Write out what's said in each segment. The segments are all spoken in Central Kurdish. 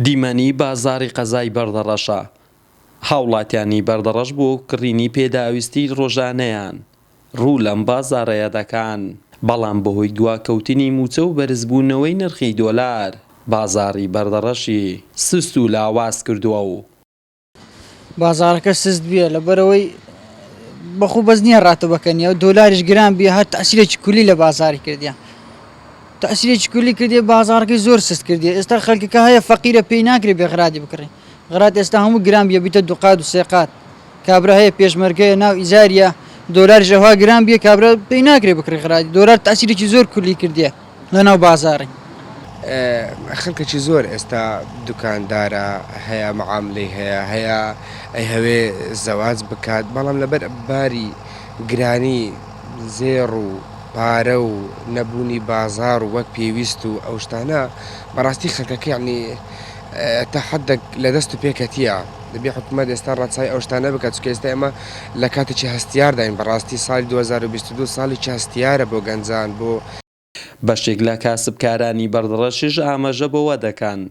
دیمەنی بازاڕی قەزای بەردەڕەشە، هاوڵاتیانی بەردەڕەش بۆ کڕینی پێداویستی ڕۆژانەیان ڕوو لەم بازاڕەیە دەکان، بەڵام بەهۆی دواکەوتنی مووچە و بەرزبوونەوەی نرخی دۆلار، بازاڕی بەردەڕەشی سست و لاواز کردووە و، بازارەکە سست بیە لەبەرئەوەی بەخو بەس نییە ڕاتەبەکە نیە و دۆلاریش گران بیە هەر تەسیرێکی کولی لە بازاری کردیان تەسیرێکی کولی کردی بازارەکەی زۆر سست کردی ئێستا خەلکەکە هەیە فەقیرە پێی ناکرێ بێ غرادی بکڕی غرات ئێستا هەموو گران بیە بیتە دوقات و سێقات کابرا هەیە پێشمەرگەیە ناو ئیزاریە دۆلار ژەوا گران بیە کابرا پێی ناکرێ بکڕی غرادی دۆلار تەسیرێکی زۆر کولی کردیە لەناو بازاڕی. خەلکەکی زۆر ئێستا دوکاندارە هەیە معاملەی هەیە هەیە ئەیهەوێ زەواج بکات بەڵام لەبەر باری گرانی زێڕ و پارە و نەبوونی بازار و وەک پێویست و ئەو شتانە بەڕاستی خەلکەکە یەعنی تا حەدەک لە دەست و پێ کەتیە دەبێ حکومەت ئێستا ڕەچاوی ئەو شتانە بکات چونکە ئێستا ئێمە لە کاتێکی هەستیارداین بەڕاستی سالی دوو هەزار و بیست و دوو ساڵێکی هەستیارە بۆ گەنجان بۆ بەشێک لە کاسبکارانی بەردڕەشش ئاماژە بەوە دەکەن،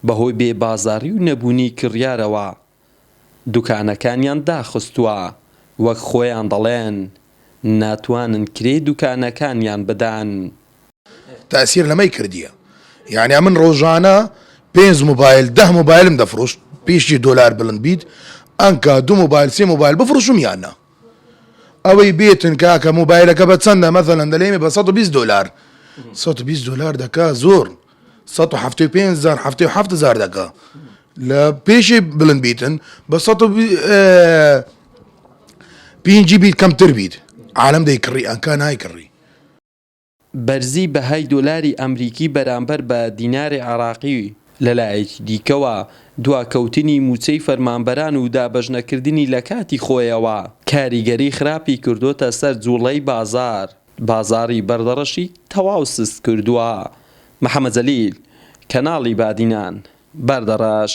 بەهۆی بێ بازاڕی و نەبوونی کڕیارەوە دوکانەکانیان داخستووە، وەک خۆیان دەڵێن ناتوانن کرێی دوکانەکانیان بدەن. تاسیر لەمەی کردیە یانە من رۆژانە پێنج موبایل دە موبایلم دەفرۆشت پیشی دۆلار بلند بیت ئەنکا دوو موبایل سێ موبایل بفروشم یان نا. ئەوەی بێتن کاکە موبایلەکە بە چەندە مەسەلەن دەلێمێ بە سەد و بیست دۆلار سەد و بیست دۆلار دەکا زۆر سەد و حەفتەی و پێنج هەزار حەفتەی و حەفت هەزار دەکا لە پێشی بلند بیتن بە سەد و بی- ئێ، پینجی بیت کەمتر بیت عالم دەی کڕی ئەنکا نای کڕی بەرزی بەهای دۆلاری ئەمریکی بەرامبەر بە دیناری عێراقی و لەلایەکی دیکەوە دواکەوتنی مووچەی فەرمانبەران و دابەشنەکردنی لەکاتی خۆیەوە کاریگەری خراپی کردۆتە سەر جوڵەی بازار بازاری بەردەڕەشی تەواو سست کردووە محەمەد جەلیل کەناڵی بادینان بەردەڕەش.